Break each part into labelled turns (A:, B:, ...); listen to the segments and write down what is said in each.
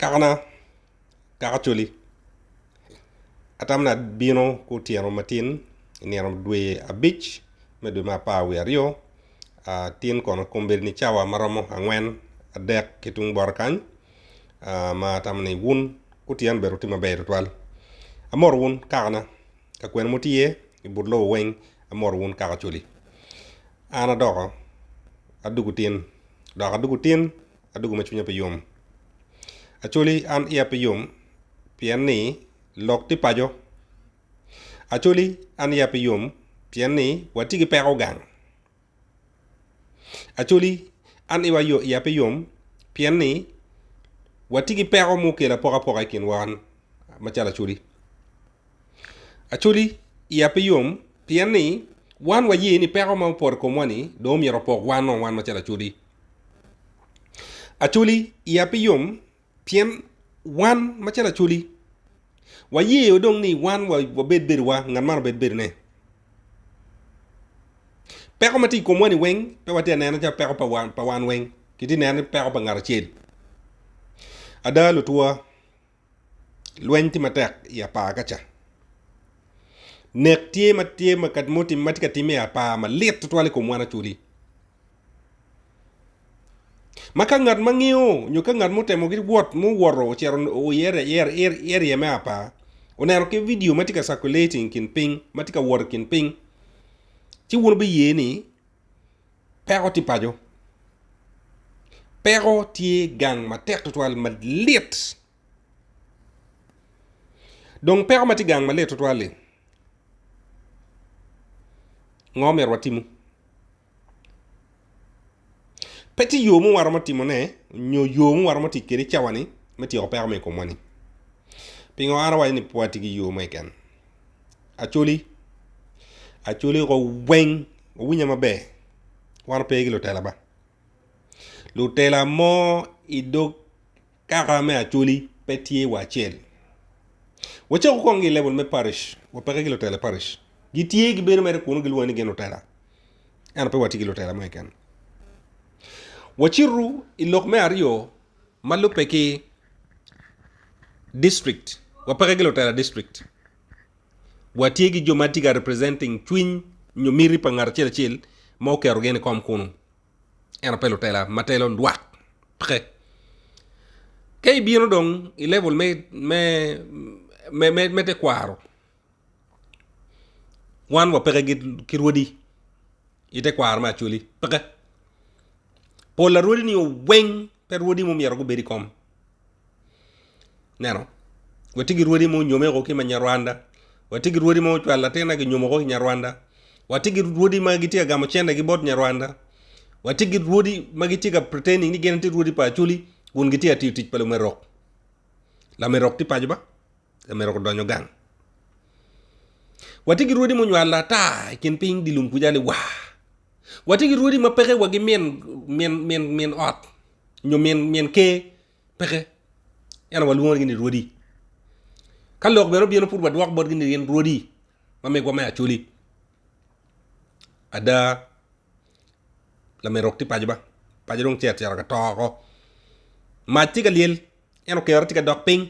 A: Kakana, kaka coli, atamana abino ki otyeno matin i nino dwe abic me dwe me apar wiye aryo, tin kono kombeddi ni cawa ma romo angwen adek ki tung bota kany ma atamo ni wun kutyen bene wutye maber tutwal. Amoto wun kakana, ka kwena ma wutye iye i but lobo weng, amoto wun kaka coli. An adoko adwogo tin dok adwogo tin adwogo ma cwinya pe yom. Acholi an iya pe yom pien ni lok tye paco. Acholi an iya pe yom pien ni watye ki peko gang. Acholi an iya pe yom pien ni watye ki peko ma okelo apokapoka i kinwa macalo acholi. Acholi, iya pe yom pien ni wan waye ni peko ma opoto i komwa ni dong omyero opok wan o wan macalo Acholi. Acholi, iya pe yom pien wan macalo Acholi waye o dong ni wan wabed bedowa ngat man obed bedone. Peko ma tye i komwa ni weng pe watye ka nene calo peko pa wan weng kitye ka nene ni peko pa ngat acel. Ada lutwa. Lweny tye matek i apar ka ca. Nek tye ma tye ma ka mutim ma tye ka timme i apar malit tutwal i kom wan aculi. Ma ka ngat ma ngiyo nyo ka ngat mutemo ki wot muwoto ocero i area me apar oneno ki video ma tye ka circulating kin ping ma tye ka wot i kin ping ci wun biye ni Peko tye paco. Peko tye gang matek tutwal malit dong peko ma tye gang malit tutwal-li ngo myero watimu? Pe tye yo mo ma waromo timone nyo yo ma waromo tic kwede i cawa-ni me tyeko peko ma i komwa-ni. Pingo an awaco ni pe wati ki yo mukene? Acholi, Acholi ko weng wuwinya maber wan wape ki lutela ba, lutela mo i dog kaka me Acholi pe tye wa acel wacaku kong ki i level me parish wa peke ki lutela i parish gitye gibedo mere kunu gilwongo ni gin lutela ento pe watye ki lutela mo keken wacitu i lok me aryo. ma lubbe ki district wa peke ki lutela district wa tye ki jo ma tye ka representing cwiny nyo miti pa ngat acel acel ma oketo gin i kom kunu ento pe lutela ma telo lwak peke ka ibino dong i level me me me me tekwaro Wan wapeke ki rwodi i tekwaro me Acholi peke. Pol a rwodi nio weng pe rwodi ma omyero gubed i kom ineno watye ki rwodi ma onyome o ki manyarwanda, watye ki rwodi ma ocwalo latin na ginyomo ki nyarwanda, watye ki rwodi ma gitye ka gamo cente gi bot nyarwanda, watye ki rwodi ma gitye ka pretending ni gin gitye rwodi pa Acholi kun gitye ka tiyo tic pa lumerok, lamerok tye paco ba. pe myero gudonyo gang. Watye ki rwodi munywalo ata i kin piny dye lum kuca ni waa, watye ki rwodi ma peke wagi min min min min ot nyo min min ker peke ento walwongogi ni rwodi, ka lok bene obino pud wadwoko botgi ni gin rwodi ma megwa me Acholi. Ada lamerok tye paco ba, paco dong cet cito ka to oko, mac tye ka lyel ento kerre tye ka dok piny.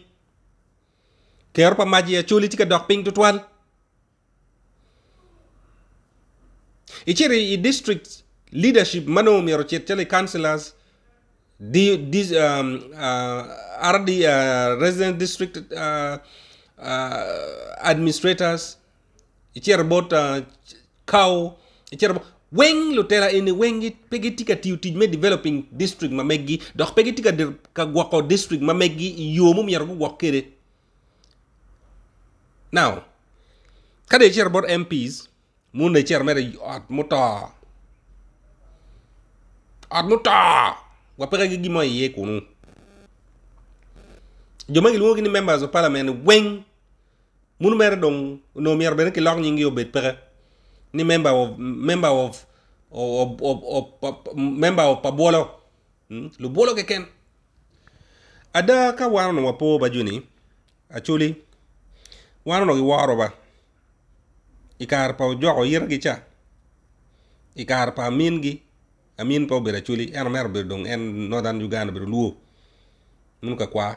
A: Kero pa mac i Acoli tye ka dok piny tutwal. Icito i district leadership ma nongo myero ocit calo i councillors, di, di, um, uh, RD, uh, resident district uh, uh, administrators, icito bot cow, icito bot weng lutela eni weng pe gitye ka tiyo tic me developing district ma megi dok pe gitye ka gwoko district ma megi i yo ma myero gugwok kwede now ka dong icito bot MP's moni dong icito mere i ot muto, ot muto wa peke ki gin mo iye kunu jo ma kilwongo ni members of parliament weng. Muno mere dong onongo myero bene ki lok nyingi obed peke ni member of member of member of pa bwolo lubwolo keken ada ka wan onongo wapo ba joni actually wan onongo giworo ba i kare pa ojoko ite gi ca i kare pa amin gi amin pe obedo acholi ento mere obedo dong en northern Uganda obedo luo muno ka kwa.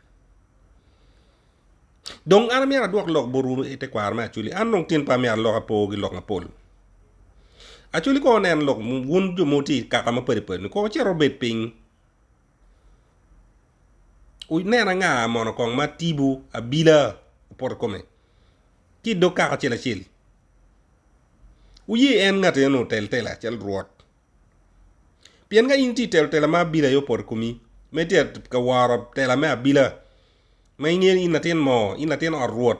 A: Dong an amyero adwok lok botwu i te kwaro me Acholi, an dong tin pe amyero alok apo ki lok mapol. Acholi kono wunen lok wun jo ma wutye i kaka mapadi padi-ni, kono wucit wubed piny, wunen anga mono kong ma tipo abila opoto i kome ki i dog kaka acel acel. Wuye en ngat enoni otel tela calo Rwot Pien ka in tye telo tela ma abila aye opoto i komi, ma itye ka woro tela me abila, ma ingeyo ni in latin moo, in latin ot rwot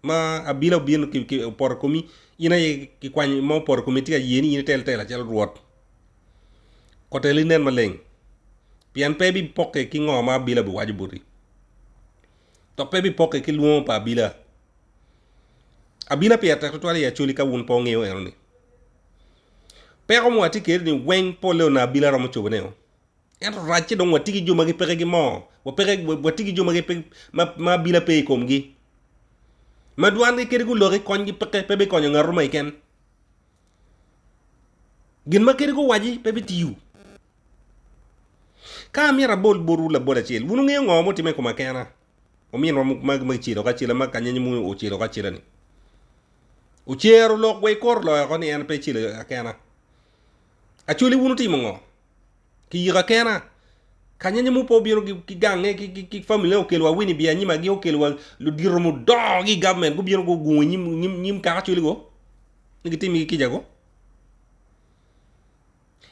A: ma abila obino opoto i komi, in aye kikwany ma opoto i komi itye ka ye ni in itel tela calo rwot. Koteli nen maleng pien pe bipokke ki ngo ma abila biwaco boti, dok pe bipokke ki lwongo pa abila. Abila pire tek tutwal i Acholi ka wun pe wungeyo eno ni. Peko ma watye kwede ni weng pole onongo abili aromo cobo ne o. Ento racce dong watye ki jo ma gipeke ki moo, watye ki jo ma abila pe i komgi, ma dwan gi kadi guloki kony gi peke pe bikonyo ngat mo keken, gin ma kadi guwaci pe bitiyo. Ka amyero abol botwu labol acel, wun wungeyo ngo ma otimme i koma kena? ominwa ma gicelo ki acela ma kanyanya moni ocelo ki acelani ocero lok wa i kor loyo ko ni en pe celo akena acoli wun wutimo ngo kiyiko akena kanyanya mo pe obino ki gange ki family ne okelo wa wini biya anyim agi okelo wa ludito mudongo gi government gubino gugungo inyim kaka acoli go ni gitimigi kica go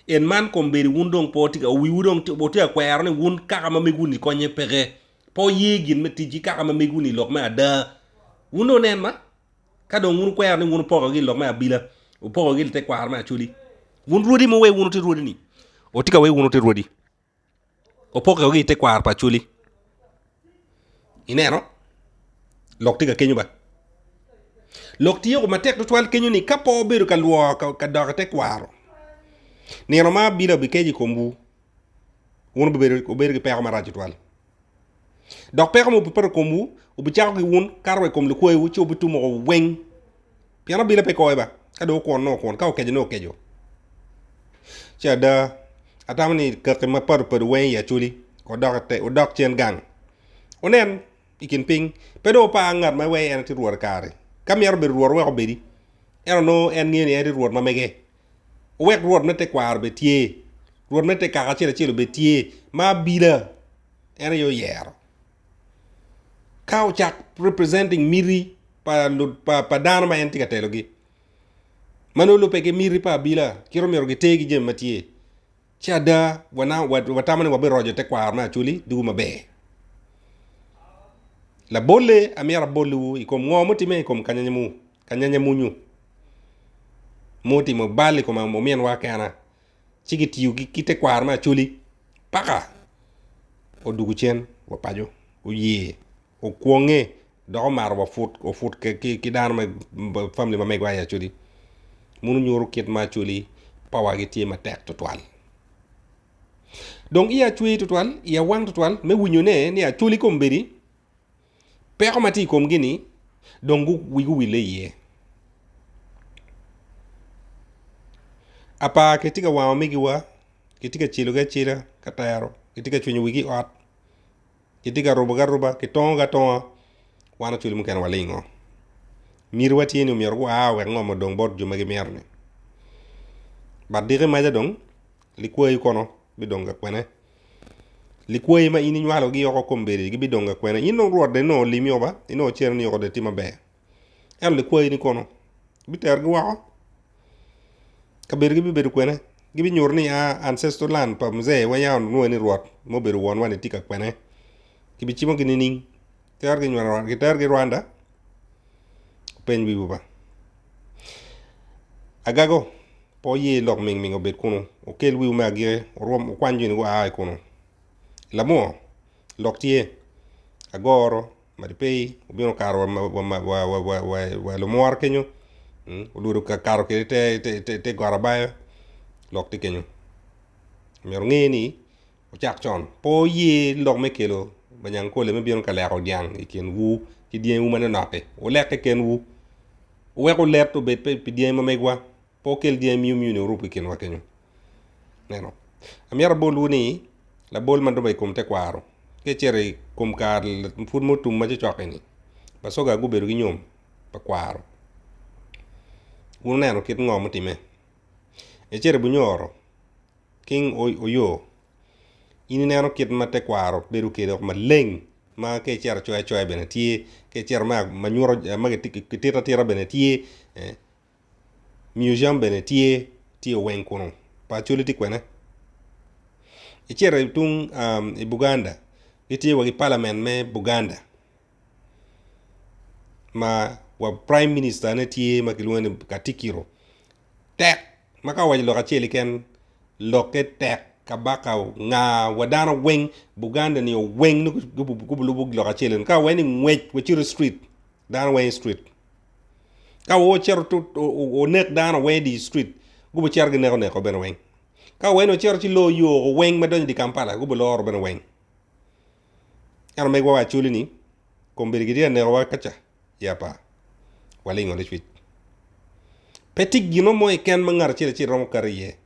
A: En man kombeddi wun dong pe wutye ka, wiwu dong wutye ka kwero ni wun kaka ma mego-ni konye peke, pe wuye gin me tic ki kaka ma mego-ni i lok me ada. Wun dong wunen ma, ka dong wun wukwero ni wun wupokogi i lok me abila, wupokogi i litekwaro me Acholi. Wun rwodi ma wuweyo wun wuti rwodi-ni, wutye ka weyo wun wuti rwodi. Opokke woko ki i tekwaro pa Acholi. Ineno? Lok tye ka kenyo ba. Lok tye o matek tutwal kenyo ni ka pe obedo ka lworo ka dok i tekwaro, nino ma abili obikeco i komwu, wun wubedo ki peko marac tutwal. Dok peko mo bipeto i komwu, wubicako ki wun, kato wa i kom likwayiwu, ci wubitumo woko weng. Pien abino pe kowe ba, ka dong okwon nongo okwon, ka okeco nongo okeco. Ci ada, atamo ni kaki mapadi padi weng i Acholi, wudok cen gang, wunen i kin piny, pe dong wupar ngat ma iwei en aye tye Rwot i kare-ri. Ka mito bedo Rwot, wek obedi, ento nongo en ngeyo ni en tye Rwot ma mege. Wuwek Rwot me tekwaro obed tye, Rwot me te kaka acel acel obed tye, ma abila en aye oyero. Ka ocak representing miti pa lu pa, pa dano ma en tye ka telogi, ma nongo lubbe ki miti pa abila, kit omyero giter ki jami ma tye. Ci ada, watamo ni wabiroco tekwaro me Acholi ducu maber. Labolle, amyero aboliwu i kom ngo mutimme i kom kanyanyamunyu ma otimo bal i kom ominwa kena, ci gitiyo ki tekwaro me Acholi paka odugu cen wa paco, oye okwonge dok omaro wa put wa put ki dano me family ma megwa i Acholi meno nyuto kit ma Acholi power gi tye matek tutwal dong iya cwer tutwal iya wang tutwal me winyo ne ni Acholi kombeddi peko ma tye i komgi ni dong wigi owille iye apa kitye ka wango megi wa kitye ka celo gi acela ka tero kitye ka cwinyo wigi i ot. Kitye ka rubogi aruba, kitongogi atonga, wan ocwele mukene walingo. Mitiwa tye ni omyero gua wek ngom odong bot jo ma gimyero-ni. But diki maca dong, likwayi kono bidong ka kwene? Likwayi ma in inywalogi yoko kombeddi gibidong ka kwene? In dong Rwot dong inongo olimi-o ba? Inongo ocerreni yoko dong iti maber? Ento likwayi-ni kono? Biterogi woko? Kabedogi bibedo kwene? Gibinyuto ni a ancestral land pa mzee wa yam onongo en aye rwot ma obedo wonwa-ni tye ka kwene? Kibicimogi nining? Kiterogi nyweno Rwanda? Kiterogi Rwanda? Wupeny wiwu ba. Agago, pe wuye lok mingming obed kunu. Wukel wiwu me agiki, wurwom, wukwany joni gua i kunu. Lamur, lok tye. Agoro, Madi pe wubino kato wa i lumwora kenyo, olwodo kato kwede i te got abaya, lok tye kenyo. Myero wunge ni wucak con, pe wuye lok me kelo banyankole me bino ka leko dyang i kinwu ki dyangiwu manonok-ki, wulek kekenwu, wuwek olet obed pi dyangi ma megwa. pe okel jami myunu myunu orub ki kinwa kenyo. Ineno? Amyero abolwu ni, labol ma doba i kom tekwaro, ka icito i kom kar pwod mo tum ma cocok-ki-ni, bacoga gubedo ki nyom pa kwaro. Wuneno kit ngo mutimme? Icito i bunyoro, King Oyo, in ineno kit ma tekwaro bedo kede woko maleng ma ka icito coya coya bene tye, ka icito ma nyuto, ma kitito atita bene tye, ee. Museum bene tye, tye oweng kunu pa Acholi tye kwene. Icito i tung i Buganda gitye wa ki Parliament me Buganda ma wa Prime Minister ne tye ma kilwongo ni Katikiro tek ma ka owaco lok acel keken lokke tek Kabaka onga wa dano weng Buganda ni oweng nongo gulubo lok acel eno ka wa ni ngwec wacito i Street dano weng i Street. Ka wa ocito to onek dano weng i di street gubo cito gineko neko bene weng. Ka wa eno ocito ci lor yo oko weng ma donyo i di Kampala gubo loro bene weng. Eno megwa wa Acholi ni kombeddi gitye ka nekowa kaca i apa walingo licwic. Pe tye gino mo keken ma ngat acel acel romo kato iye.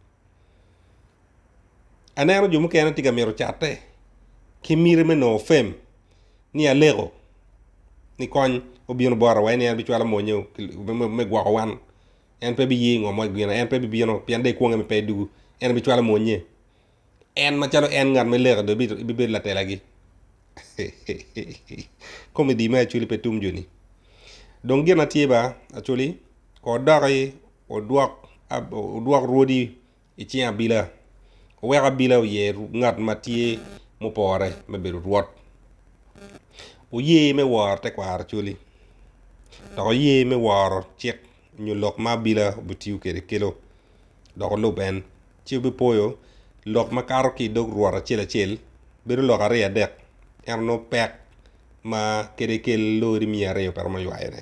A: Aneno jo mukene tye ka mito catte ki miti me nongo fem ni aleko ni kony obino bota wa en bicwalo monyeo me gwoko wan en pe biye i ngo mo gin en pe bibino pien dong ikwonge pe dugu en bicwalo monye en macalo en ngat me leko dong ibibedo latelagi komedi me Acoli pe tum joni dong gin na tye ba Acoli ko doki odwok rwodi i cing abila, oweko abila oye ngat ma tye mupore me bedo rwot. Oye me woro tekwaro cwali, dok oye me woro cik nyo lok ma abila obitiyo kwede kelo, dok olub en, ci obipwoyo lok ma kato ki i dog rwot acel acel bedo lok aryo adek, ento nongo pek ma kede kel lori miya aryo pe romo ywayone.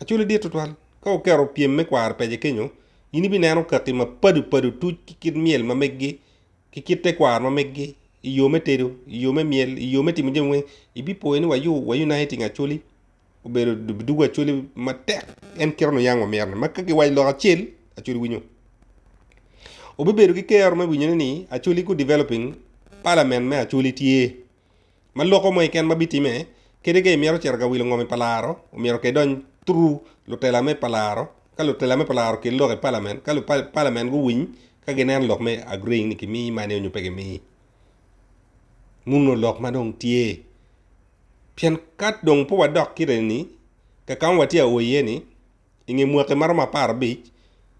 A: Acwali dit tutwal. Ka wuketo pyem me kwaro pece kenyo, in ibineno kaki mapadi padi otuc ki kit myel ma meggi, ki kit tekwaro ma meggi, i yo me tedo, i yo me myel, i yo me timo jami weng. Ibipwoyo ni wayo wa Uniting Acholi obedo dugu Acholi matek en kit ma nuyang wamito ni. Ma ka kiwaco lok acel, Acholi winyo. Wubibedo ki kero me winyone ni Acholi gu developing Parliament me Acholi tye. Ma loko mo keken ma bitime, kadi ka imito cito ka wilo ngomi pa laro, omyero ka idony through lutela me pa laro, ka lutela me pa laro kel lok i Parliament, ka Parliament guwiny ka ginen lok me agreeing ni kimiyi mani nyo pe kimiyi, muno lok ma dong tye. Pien ka dong pe wadok kit eni, kaka ma watye ka o iye ni, i nge mwaki ma romo apar abic,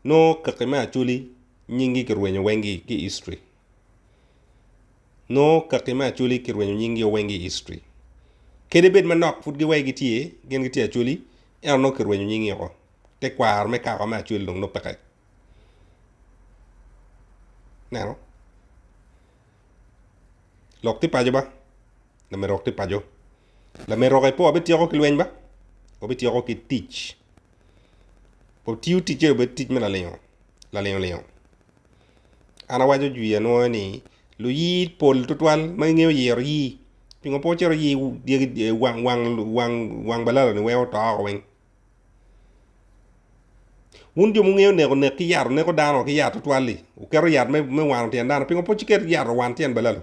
A: nongo kaki me Acholi nyinggi kirwenyo wenggi ki history. Nongo kaki me Acholi ki rwenyo nying gi o weng i history. Kadi bed manok pud gi wai gi tye, gin gi tye Acholi, ento nongo ki rwenyo nying gi oko. Te kwaro me kaka me Acholi dong nongo peke. Ineno? Lok ti paco ba, lamerok ti paco. Lamerok e pe wa bi tyeko ki lweny ba, wa bi tyeko ki tic. Wa tiyo ticce obed tic me lalingo, lalingo lingo. an awaco jwi anwoyo ni luyi pol twatwal ma gingeyo yero yi pingo pe wucito yi wang balaloni weko oto oko weng wun jo ma wungeyo neko nek ki yat wuketo yat me wano tyen dano pingo pe wucito ki yat owano tyen balalo.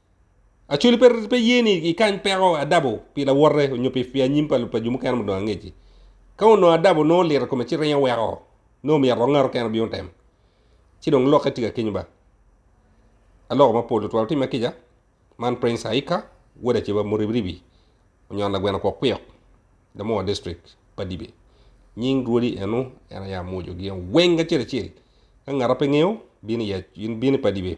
A: Actually pe pe ye ni ikany peko adabo pi lawote onyo pi pi anyim pa pa jo mukene ma odong angeci. Ka onongo adabo nongo olito kome ci ringo weko nongo omyero ongato kene obino temo. Ci dong lokke tye ka kenyo ba. Aloko mapol tutwal timme kica. Man Prince Aika, wod Aceba Muribiribi, onyon lagweno kwok kwok, Damowa District, Padibe. Nying Rwodi eno en aye amwojogi weng acel acel. Ka ngata pe ngeyo, bin i yac, bin i Padibe.